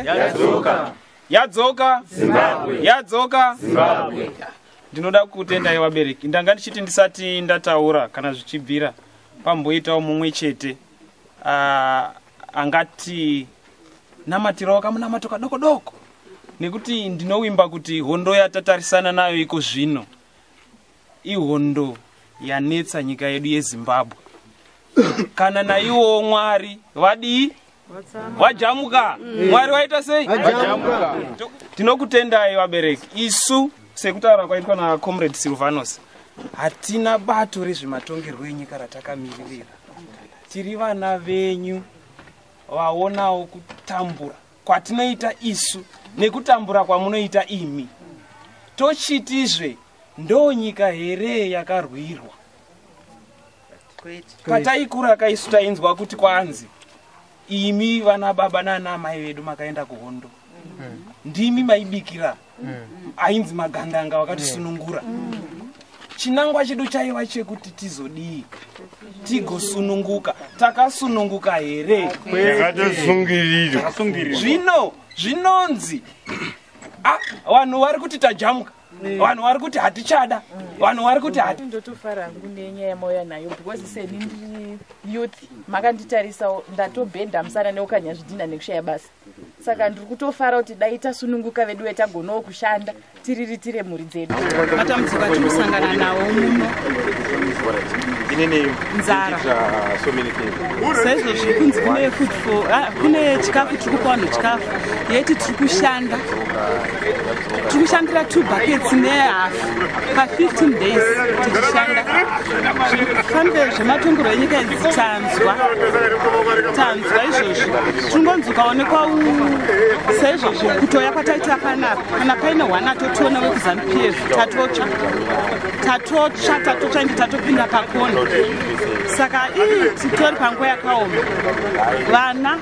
yadzoka yadzoka zimbabwe yadzoka zimbabwe ndinoda kutendai vabereki ndanga ndichiti ndisati ndataura kana zvichibvira pamboitawo mumwe chete ah, angati namatirawo kamunamato kadoko doko nekuti ndinowimba kuti hondo yatatarisana nayo iko zvino ihondo yanetsa nyika yedu yezimbabwe kana naiwowo mwari vadii vajamuka mwari waita sei tinokutendai vabereki isu sekutaura kwaitwa nacomrade silvanos hatina bato rezvematongerwo enyika ratakamiririra tiri vana venyu vaonawo kutambura kwatinoita isu nekutambura kwamunoita imi tochitizve ndonyika here yakarwirwa pataikura kaisu tainzwa kuti kwanzi imi vana baba nana amai vedu makaenda kuhondo ndimi maibikira ainzi magandanga wakatisunungura chinangwa chedu chaiva chekuti tizodii tigosununguka takasununguka here yakatosungirirwa zvino zvinonzi ah, vanhu vari kuti tajamuka vanhu vari kuti hatichada vanhu vari kuti hati ndotofara hangu nenyaya yamauya nayo because seni ndiri youth makanditarisawo ndatobhenda musana neukanya zvidhina nekushaya basa saka ndiri kutofara kuti dai tasununguka vedu vetagonawo kushanda tiriritire mhuri dzedu matambudziko atinosangana nawo muno nzara saizvo zviri kunzi kune food for ah, kune chikafu tiri kupa vanhu chikafu yeti tiri kushanda tikushandira two buckets nehalf pa15 days tichishanda fambe zvematongero enyika idzi tanzwa tanzwa izvozvi tingonzi ukaonekwa saizvozvi kutoya kwataita panapa kana paine one atotiona wekuzanu pf tatotsva tatotsva tatotsva ende tatopinda pakona saka ii titori panguva yakaoma vana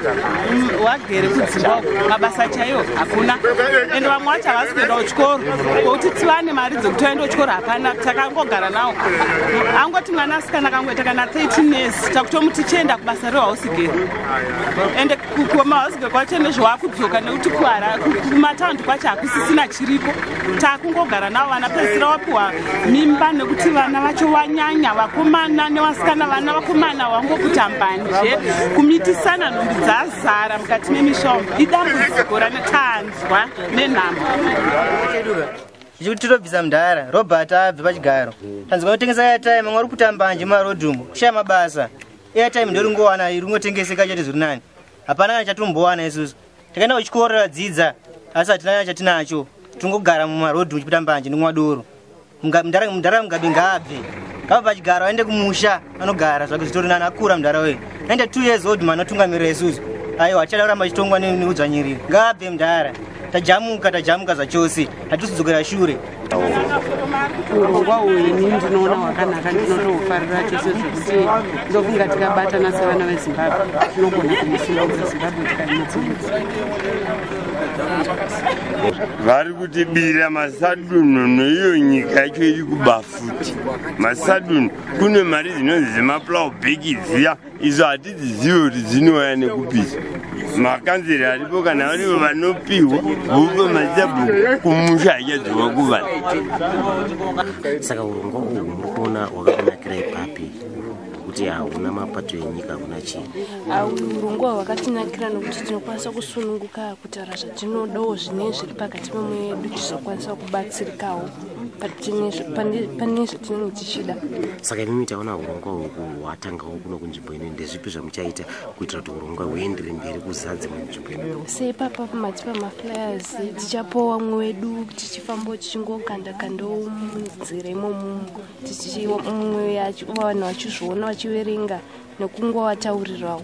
mm, wagere kudzimba uku mabasa chaiwo hakuna ende vamwe wacho havasi kuenda kuchikoro kokuti tivane mari dzekuti vaenda kuchikoro hapana takangogara nawo angoti mwana asikana akangoita kana 13 years takutomuti chienda kubasa rehausigere ende kukoma hauzive kwacho nezvawakudzoka nekuti kuhara kumataundi kwacho hakusisina chiriko takungogara navo vana pedzisira wapiwa mimba nekuti vana vacho wanyanya vakomana nevasikana vana vakomana wangokuta mbanje kumitisana nhumbi dzazara mukati memishombo idambudziko ranetanzwa nenhamo zvichikuti tirobvisa mudhara robert abve pachigaro tanzwa kutengesa yataye mamwe ari kutambanje mumarodhumu kushaya mabasa airtime ndoringowana ringotengeseka chete zviri nani hapana kana chatombowana isusu takaenda kuchikoro radzidza asi hatina kana chatinacho tingogara mumarodhi muchipita mbanje ndinwa doro mudhara mugabe ngaabve ngava pachigaro aende kumusha anogara zvake zvitori nani akura mudhara wee aende two years old man otungamirira isusu aiwa hatichada kuramba chitongwa neudzvanyiriri ngaabve mudhara tajamuka tajamuka zvachose hatisi kudzokera shure urongwa uyu ini ndinoona hwakanaka ndinotohufarira chose zvekuti ndofunga tikabatana sevana vezimbabwe tinogona kumusimuudza zimbabwe tikaimutsimudzi vari kutibira masadunhu neiyo nyika yacho iri kuba futi masadunhu kune mari dzinonzi dzemaplow bheki dziya izo hatidzizive kuti dzinouya nekupisa makanzeri aripo kana varivo vanopihwa vopa mazabhuku kumusha haichadzoka kuvana saka urongwa uhu muri kuona hwakakunakira ipapi kuti hauna mapato enyika hakuna chii urongwa hwakatinakira nokuti tinokwanisa kusununguka kutaura zvatinodawo zvine zviri pakati pemwedu tizokwanisa kubatsirikawo pane zvatinenge tichida saka imimi taona urongwa hwatangao kuno kunzvimbo ino ndezvipi zvamuchaita kuitira kuti urongwa huendere mberi kuzaa dzimwe nzvimbo ino seipapa pamati pamaflyers tichapowa mwe wedu tichifamba tichingokanda kandoo munzira imomumu tichiumwe vanhu vachizviona vachiverenga nekungowataurirawo